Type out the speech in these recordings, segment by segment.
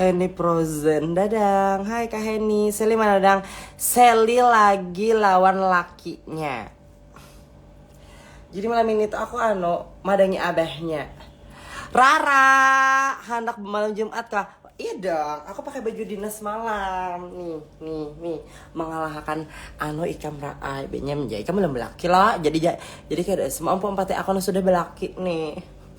Eni Frozen Dadang Hai Kak Heni Seli mana Dadang Seli lagi lawan lakinya Jadi malam ini tuh aku ano Madangi abahnya Rara Handak malam Jumat kah Iya dong Aku pakai baju dinas malam Nih Nih Nih Mengalahakan Ano ikam Raa Benyam Ikam belum belaki lah Jadi Jadi kayak semua empat aku sudah belaki nih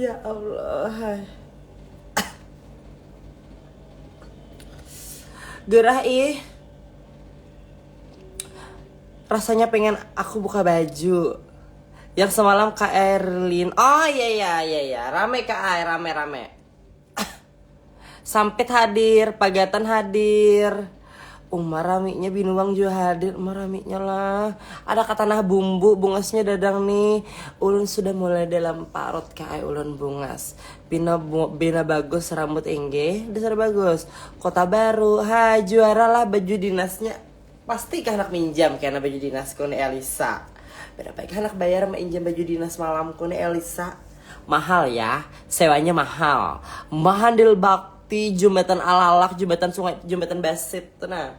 ya Allah gerah ih rasanya pengen aku buka baju yang semalam Kak Erlin oh iya iya iya iya rame Kak Ay rame rame Sampit hadir, Pagatan hadir. Umar raminya binuang jua hadir. Umar raminya lah. Ada katanah bumbu bungasnya dadang nih. Ulun sudah mulai dalam parut kah ai ulun bungas. Pina bina bagus rambut inggih, dasar bagus. Kota Baru, ha juara lah baju dinasnya. Pasti kah handak minjam kena baju dinas ku ni Elisa. Berapa kah handak bayar meinjam baju dinas malam ku ni Elisa. Mahal yah, sewanya mahal. Mahandil bakti, jumatan alalak, jumatan sungai, jumatan basit tu nah.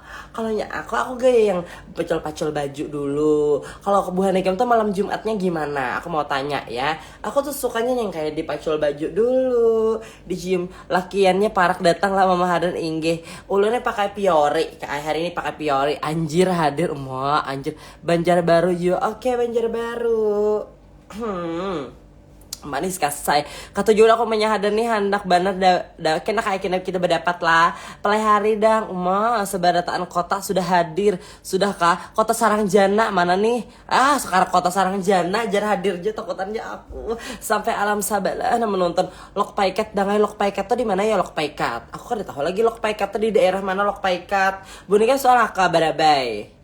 Kalau nya aku, aku gaya yang pacul-pacul baju dulu. Kalau aku buhan ikam tuh malam Jumatnya gimana? Aku mau tanya ya. Aku tuh sukanya yang kayak dipacul baju dulu, dicium lakiannya parak datang lah mama hadan inggih. Ulunnya pakai piori, kayak hari ini pakai piori. Anjir hadir, ma anjir. Banjarbaru you, oke okay, Banjarbaru. Hmm, manis kasai. Kata jul aku menya hadan nih handak banar da, da kena kayak kena kita berdapat lah. Pelai hari dang, uma sebarataan kota sudah hadir, sudah kah? Kota sarang jana mana nih? Ah, sekarang kota sarang jana jar hadir je takutan je aku. Sampai alam sabalah nah menonton lok paikat dangai lok paikat tuh di mana ya lok paikat? Aku kada tahu lagi lok paikat tuh di daerah mana lok paikat. Bunikah soal aka barabai.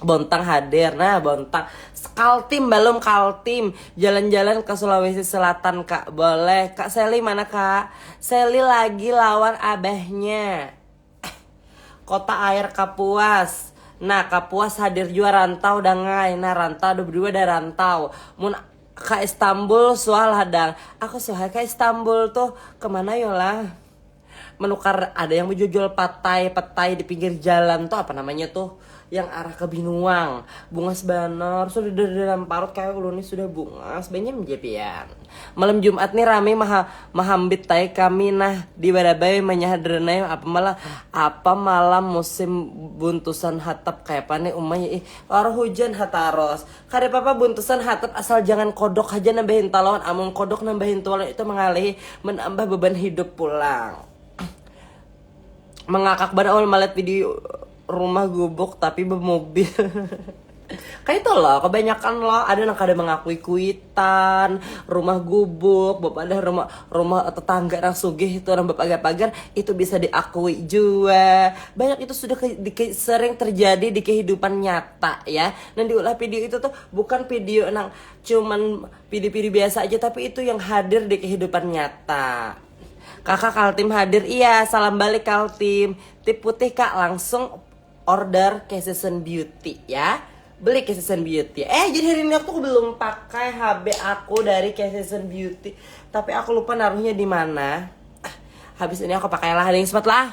Bontang hadir, nah Bontang Kaltim belum Kaltim Jalan-jalan ke Sulawesi Selatan kak, boleh Kak Seli mana kak? Seli lagi lawan abahnya Kota air Kapuas Nah Kapuas hadir jua rantau dangai Nah rantau ada berdua ada rantau Mun ka Istanbul suah lah dang Aku suah ka Istanbul tuh kemana yolah Menukar ada yang bejual patai, petai di pinggir jalan tuh apa namanya tuh yang arah ke Binuang. Bungas banar, sudah dari dalam parut kayak ulun nih sudah bungas banyak japian. Malam Jumat nih rame maha, mahambit tai kami nah di Barabai manyahar dernai apa malah apa malam musim buntusan hatap kayapa nih umanya ih. Wara hujan ha taros, Kada papa buntusan hatap asal jangan kodok haja nambahin talon amun kodok nambahin tualon itu mangalihi manambah beban hidup pulang mangakak banar amun malihat video rumah gubuk tapi bemobil kaitu lo kebanyakan lo ada nang kada mengakui kuitan rumah gubuk bepadah rumah rumah tetangga nang sugih itu orang bepagar-pagar itu bisa diakui jua banyak itu sudah ke, di, sering terjadi di kehidupan nyata ya Nang diulah pidio itu tuh bukan pidio nang cuman pidio-pidio biasa aja tapi itu yang hadir di kehidupan nyata. Kakak Kaltim hadir. Iya, salam balik Kaltim. Tip putih Kak, langsung order ke Season Beauty ya. Beli ke Season Beauty. Eh, jadi hari ini aku tuh belum pakai HB aku dari ke Season Beauty, tapi aku lupa naruhnya di mana. Habis ini aku pakailah ring smart lah.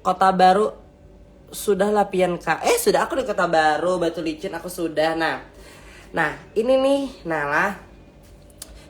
Kota Baru sudah lah pian ka eh sudah aku di Kota Baru Batu Licin aku sudah nah nah ini nih nah lah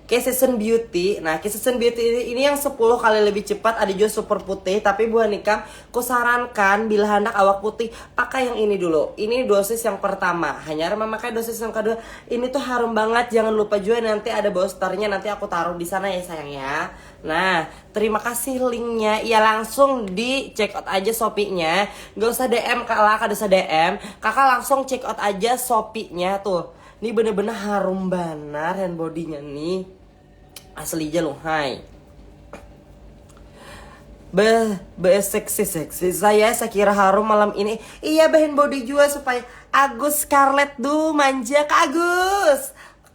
Season Beauty nah Season Beauty ini, ini yang 10 kali lebih cepat ada juga super putih tapi buah nikam ku sarankan bila hendak awak putih pakai yang ini dulu ini dosis yang pertama hanya memakai dosis yang kedua ini tuh harum banget jangan lupa juga nanti ada boosternya nanti aku taruh di sana ya sayang ya nah Terima kasih linknya, ya langsung di check out aja Shopee-nya. Gak usah DM kak lah, kada usah DM. Kakak langsung check out aja Shopee-nya tuh. Ini bener-bener harum banar hand body-nya nih. Asli aja loh, hai. Be, be seksi seksi. Saya saya kira harum malam ini. Iya, hand body juga supaya Agus Scarlett duh manja Kak Agus.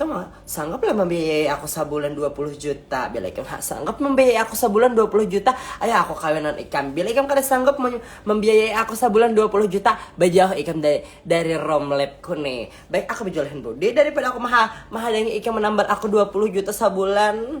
Tama, sanggup lah mambiayai aku sabulan dua puluh juta. Bila ikam ha sanggup mambiayai aku sabulan dua puluh juta, ayo aku kawinan ikam. Bila ikam kada sanggup mambiayai aku sabulan dua puluh juta, bajauh ikam dari dari romlab ku ni. Baik aku bajual hand body daripada aku maha mahadangi ikam manambar aku dua puluh juta sabulan.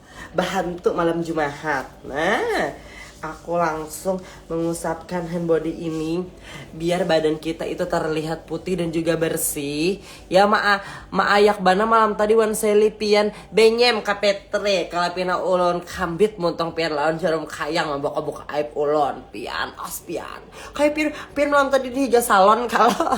Bahantu malam Jumahat. Nah, aku langsung mengusapkan hand body ini biar badan kita itu terlihat putih dan juga bersih. Ya maa maayak bana malam tadi wan Sally pian benyem ka Petri kalau pina ulun kambit muntong pian lawan jarum kayang membuka-buka aib ulun pian os pian. Kayak pian, pian malam tadi di higa salon kalau.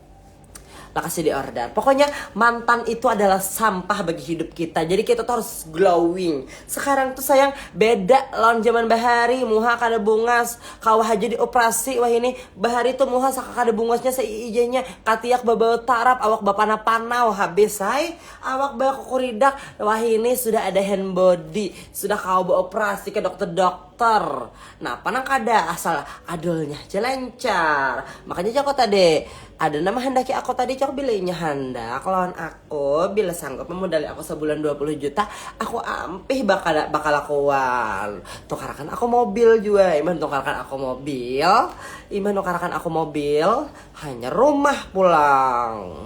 Lakasnya di order. Pokoknya mantan itu adalah sampah bagi hidup kita. Jadi kita tuh harus glowing. Sekarang tuh sayang beda lawan zaman bahari. Muha kada bungas. Kawah aja dioperasi. Wah ini bahari tuh muha saka kada bungasnya seiijanya. Katiak babau tarap. Awak bapana-panau. Habis hai. Awak bakukuridak. Wah ini sudah ada hand body. Sudah kawa beoperasi ke dokter-dokter. Ter. Napa nang kada, asal adolnya haja lancar. Makanya jako tadi, ada nang mahandaki ako tadi cok bila inya handak lawan ako, bila sanggup mamudali ako sabulan dua puluh juta, ako ampih bakala bakalakuan. Tukarakan ako mobil jua, imbah tukarakan ako mobil, imbah nukarakan ako mobil, hanyar rumah pulang.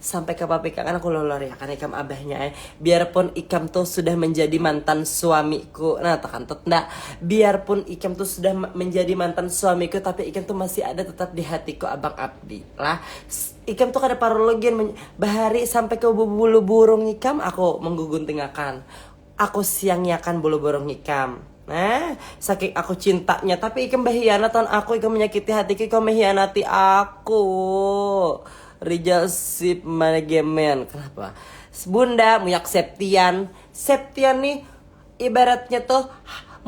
Sampai ke pabrik akan aku loloriakan ikam abahnya eh. Biarpun ikam tuh sudah menjadi mantan suamiku. Nah, tuh kan tuh ndak. Biarpun ikam tuh sudah menjadi mantan suamiku tapi ikam tuh masih ada tetap di hatiku Abang Abdi. Lah, ikam tuh kada parlu lagi bahari sampai ke bulu burung ikam aku mengguguntingakan. Aku siangiakan bulu burung ikam. Nah, saking aku cintanya, tapi ikam bahianat lawan aku, ikam manyakiti hatiku, ikam mahianati aku. Rijal Sip Managemen. Kenapa? Bunda, muyak Septian. Septian nih ibaratnya tuh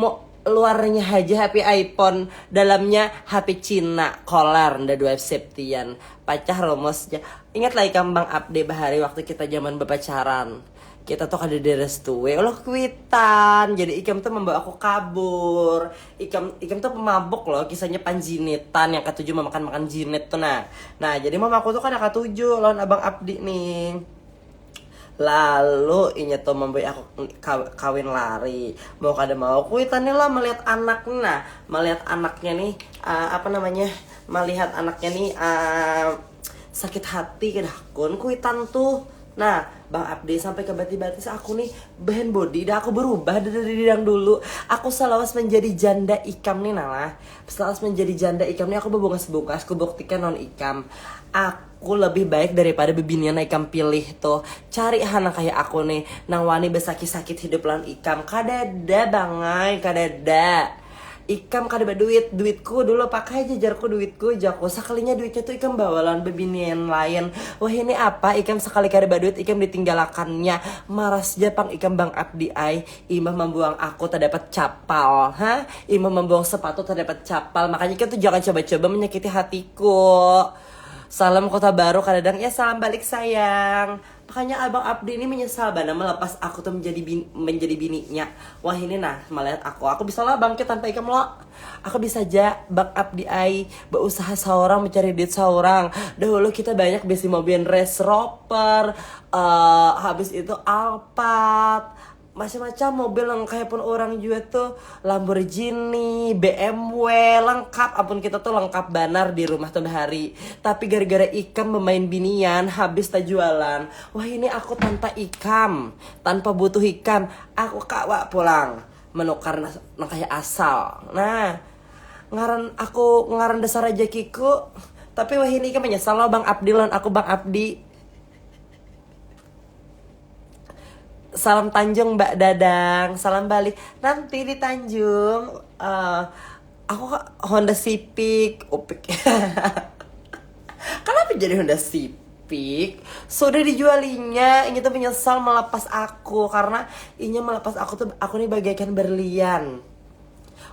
mau luarnya haja HP iPhone, dalamnya HP Cina, kolar, nda dua Septian. Pacah rumusnya. Ingatlah ikam Bang Abde bahari waktu kita zaman bapacaran. Kita tuh kada direstui oleh kuitan, jadi ikam tuh membawa aku kabur. Ikam ikam tuh pemabuk loh, kisahnya panjinitan yang katuju memakan makan jinit tuh nah. Nah jadi mamaku tuh kada katuju lawan abang Abdi nih. Lalu inya tuh memberi aku kawin lari. Mau kada mau kuitan nih lah melihat anak nih nah, melihat anaknya nih uh, apa namanya melihat anaknya nih uh, sakit hati kada hakun kuitan tuh. Nah, Bang Abdi sampai ke batis-batis aku nih band body dah aku berubah dari yang dulu. Aku selawas menjadi janda ikam nih nalah. Selawas menjadi janda ikam nih aku bebungas-bungas kubuktikan non ikam. Aku lebih baik daripada bebinian ikam pilih tuh. Cari ha nang kaya aku nih nang wani besakit-sakit hidup lawan ikam. Kadada bangai, kadada. Ikam kada baduit, duitku dulu pakai ja jarku duitku jaku, sakalinya duitnya tu ikam bawa lawan bebinian lain, wahini apa ikam sakali kada baduit ikam ditinggalakannya, maras ja pang ikam bang abdi ai, imbah mambuang aku tadapat capal ha, imbah mambuang sepatu tadapat capal, makanya ikam tu jangan coba-coba manyakiti hatiku, salam kota baru kadadang, ya salam balik sayang. Makanya abang abdi ni menyesal banar melepas aku tu menjadi bini, menjadi bininya. Wah ini nah melihat aku, aku bisa lah bangkit tanpa ikam lo. Aku bisa ja bang abdi ai beusaha saurang mencari duit saurang. Dahulu kita banyak besi mobil Range Rover, uh, habis itu Alphard, macam-macam mobil yang kayak pun orang juga tuh Lamborghini, BMW, lengkap ampun kita tuh lengkap banar di rumah tuh bahari. Tapi gara-gara ikam bermain binian habis tajualan. Wah ini aku tanpa ikam, tanpa butuh ikam, aku kawa pulang menukar nang kayak asal. Nah, ngaran aku ngaran dasar rejekiku. Tapi wah ini ikam menyesal loh Bang Abdi lawan aku Bang Abdi. Salam Tanjung Mbak Dadang. Salam balik. Nanti di Tanjung uh, aku Honda Civic, Upik. Kenapa jadi Honda Civic? Pik sudah dijualinya ini tuh menyesal melepas aku karena ini melepas aku tuh aku nih bagaikan berlian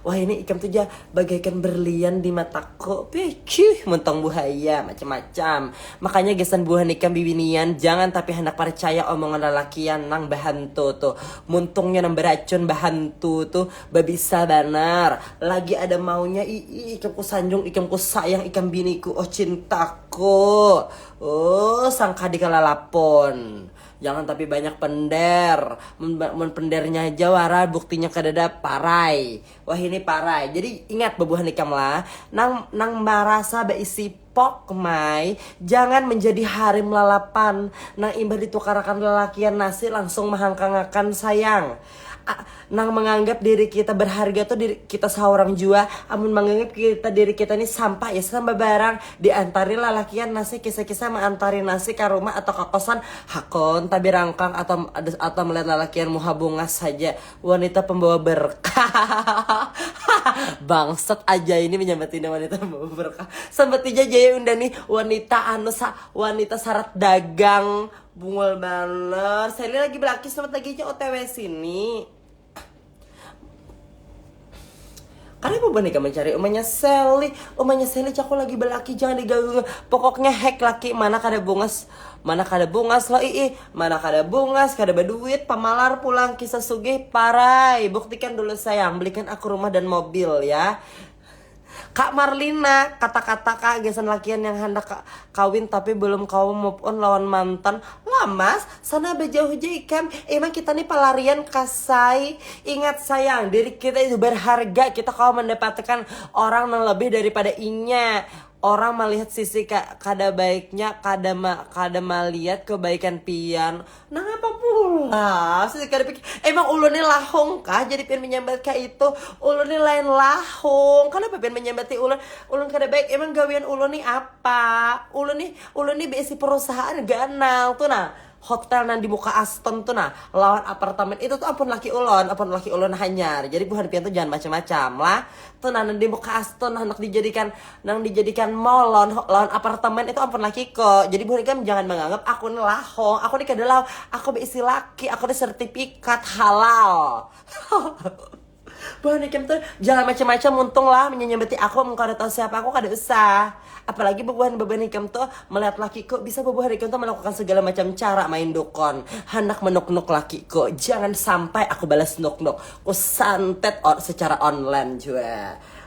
Wahini ikam tu ja bagaikan berlian di mataku. Peuchuh, mun tong buhaya, macam-macam. Makanya gasan buhan ikam bibinian, jangan tapi handak parcaya omongan lalakian nang bahantu tu. Muntungnya nang baracun bahantu tu, babisa banar. Lagi ada maunya, iih, ikam ku sanjung, ikam ku sayang, ikam biniku, oh cintaku. Uuh, sangkadi kalalapun. Jangan tapi banyak pender. Mun, mun pendernya aja wara buktinya kadada parai. Wah ini parai. Jadi ingat bebuhan ikam lah. Nang nang marasa beisi pok mai jangan menjadi harim lalapan nang imbah ditukarakan lalakian nasi langsung mahangkangakan sayang. nang menganggap diri kita berharga tuh diri kita seorang jua amun menganggap kita diri kita ini sampah ya sama barang diantari lalakian nasi kisah-kisah mengantari nasi ke rumah atau ke kosan hakon tapi rangkang atau atau melihat lalakian muha bungas saja wanita pembawa berkah bangset aja ini menyambat ini wanita pembawa berkah sambat aja jaya unda nih wanita anu sa wanita sarat dagang Bungul banar. Sally lagi belaki selamat lagi aja OTW sini. Karena ibu boneka mencari umanya Sally. Umanya Sally cako lagi belaki jangan diganggu. Pokoknya hack laki mana kada bungas. Mana kada bungas lo ii. Mana kada bungas, kada berduit, pamalar pulang kisah sugih parai. Buktikan dulu sayang, belikan aku rumah dan mobil ya. Kak Marlina, kata-kata kak gasan lakian yang handak kawin tapi belum kawa move on lawan mantan. Wah mas, sana bejauh ja ikam, emang kita ni pelarian kah say? Ingat sayang, diri kita itu berharga, kita kawa mendapatkan orang nang lebih daripada inya. Orang malihat sisi kada baiknya, kada ma kada malihat kebaikan pian. Nangapa pulas? Kada pikir. Emang ulun ni lahong kah jadi pian menyambat ka itu? Ulun ni lain lahong. Kenapa pian menyambati ulun? Ulun kada baik. Emang gawian ulun ni apa? Ulun ni ulun ni beisi perusahaan ganal tu nah. Hotel nang di muka Aston tu nah, lawan apartemen itu tu ampun laki ulun, ampun laki ulun hanyar. Jadi buhan pian tu jangan macam-macam lah. Tu nah nang di muka Aston handak dijadikan nang dijadikan mall lawan lawan apartemen itu ampun laki ko jadi buhan ikam jangan menganggap aku ni lahong aku ni kada lahong aku beisi laki aku ni sertifikat halal buhan ikam tuh jangan macam-macam muntung lah menyambati aku mengkau ada tahu siapa aku kada usah apalagi bubuhan bubuhan ikam tuh melihat lakiku bisa bubuhan ikam tuh melakukan segala macam cara main dukun hendak menuk-nuk lakiku jangan sampai aku balas nuk-nuk ku santet secara online juga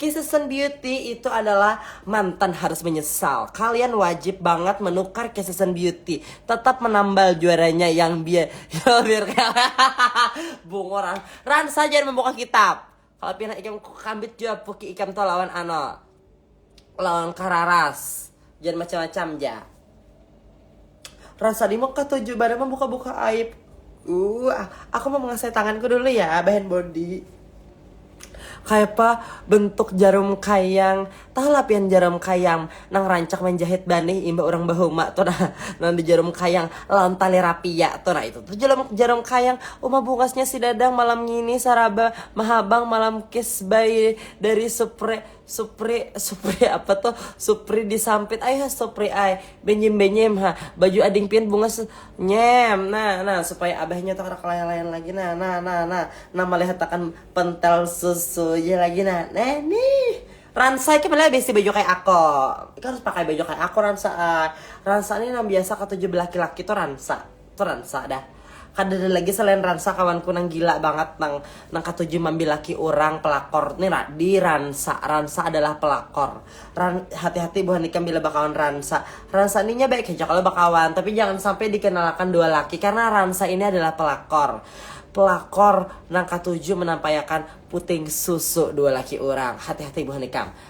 Kissesn Beauty itu adalah mantan harus menyesal. Kalian wajib banget menukar Kissesn Beauty. Tetap menambal juaranya yang biar biar bungo ran. Ran saja membuka kitab. Kalau pina ikam kambit jua puki ikam to lawan ano. Lawan kararas. Jangan macam-macam ja. Rasa limok katuju baru membuka-buka aib. Uh, aku mau mengasai tanganku dulu ya, bahan body. Kayak apa bentuk jarum kayang. Tahu lah pian jarum kayang nang rancak menjahit banih imbah orang bahuma tuh nah. Nang di jarum kayang lawan tali rapia tuh nah itu tuh jarum, jarum kayang. Uma bungasnya si Dadang malam ngini saraba mahabang malam kiss by dari Supre Supri, supri apa tuh, supri disampit ai ha supri ai, benyim benyim ha, baju ading pian bungas tuh, nyem, nah nah supaya abahnya tuh kada kelaian-laian lagi nah, nah nah nah, nah malihatakan pentel susunya lagi nah, nah nih, Ransa ikam leh bisi baju kaya ako, ikam harus pakai baju kaya ako Ransa ai, Ransa nih nang biasa katuju belaki-laki tuh Ransa. Tu Ransa dah. Kadada lagi selain Ransa kawanku nang gila bangat nang nang katuju mambil laki urang pelakor ni di Ransa. Ransa adalah pelakor. Ran, hati-hati buhan ikam bila bakawan Ransa. Ransa ni nya baik haja kalo bakawan, tapi jangan sampai dikenalakan dua laki karena Ransa ini adalah pelakor. Pelakor nang katuju menampaiakan puting susu dua laki urang. Hati-hati buhan ikam.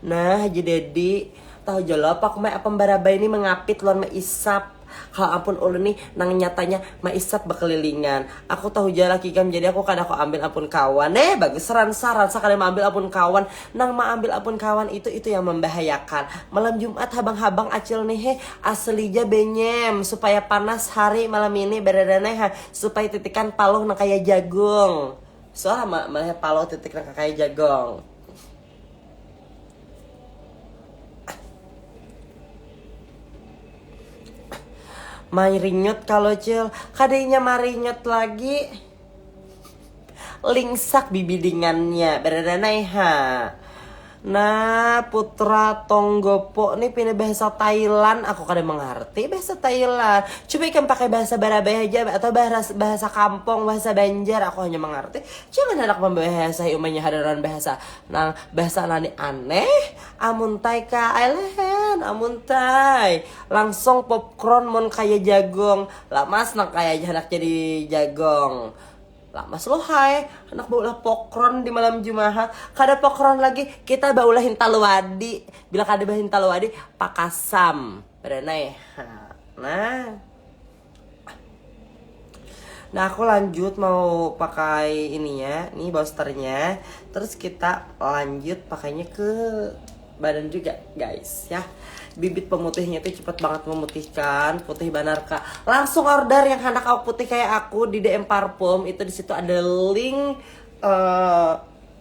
Nah haji daddy, tahu ja lo pokma ya apam barabai nih mengapit wan meisap. Kalo ampun ulun nih nang nyatanya meisap bekelilingan. Aku tahu ja laki ikam jadi aku kada ko ambil ampun kawan. Heh bagus ransa, ransa kada meambil ampun kawan. Nang meambil ampun kawan itu itu yang membahayakan. Malam jumat habang habang acil nih heh, aseli ja benyem supaya panas hari malam ini beredanai ha, supaya titikan paluh nang kaya jagung. Suah ma malihar paluh titik nang kakaya jagong. Mairinyut kalo cil, kada inya marinyut lagi. Lingsak bibidingannya, baradanai ha. Nah, putra Tonggopo nih pina bahasa Thailand, aku kada mangarti bahasa Thailand. Coba ikam pakai bahasa Barabai haja atau bahasa kampung, bahasa Banjar, aku hanya mangarti Jangan handak mambahasahi umanya hadaran bahasa nang bahasa nani aneh amun tai ka ai lehen amun tai langsung popcorn mun kaya jagong lamas nang kaya aja handak jadi jagong lamas lo hai handak baulah pokron di malam jumahat kada pokron lagi kita baulah hintalu wadi bila kada bahintalu wadi pakasam badanai ha nah. Nah aku lanjut mau pakai ininya, nih boosternya. Terus kita lanjut pakainya ke badan juga guys ya. Bibit pemutihnya itu cepet banget memutihkan, putih banar kak. Langsung order yang anak awak putih kayak aku di DM Parfum itu di situ ada link uh,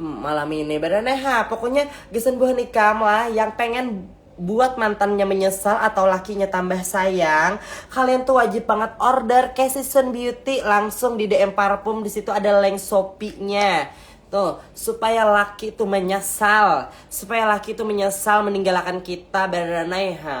malam ini bener nah ha, pokoknya gasan buhan ikam lah yang pengen buat mantannya menyesal atau lakinya tambah sayang kalian tuh wajib banget order ke season beauty langsung di DM parfum di situ ada link shopee-nya tuh supaya laki itu menyesal supaya laki itu menyesal meninggalkan kita bener nah ha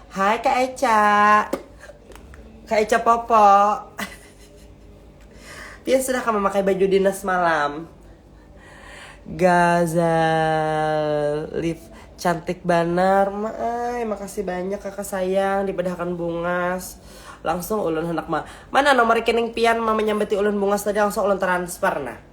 Hai Kak Eca. Kak Eca Popo. Pian sudah kamu memakai baju dinas malam. Gazalif cantik banar maai makasih banyak kakak sayang dipedahkan bungas langsung ulun hendak ma mana nomor rekening pian ma menyambati ulun bungas tadi langsung ulun transfer nah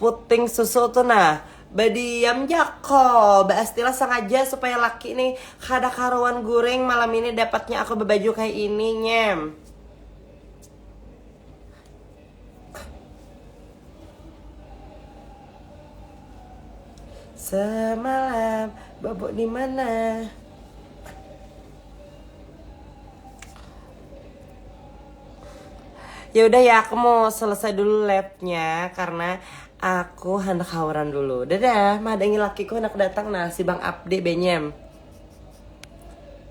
puting susu tuh nah badiam jako baastilah sengaja supaya laki nih kada karuan guring malam ini dapatnya aku berbaju kayak ini nyem semalam bobok di mana ya udah ya aku mau selesai dulu labnya karena aku hendak hauran dulu dadah madangi lakiku hendak datang nah si bang abdi benyem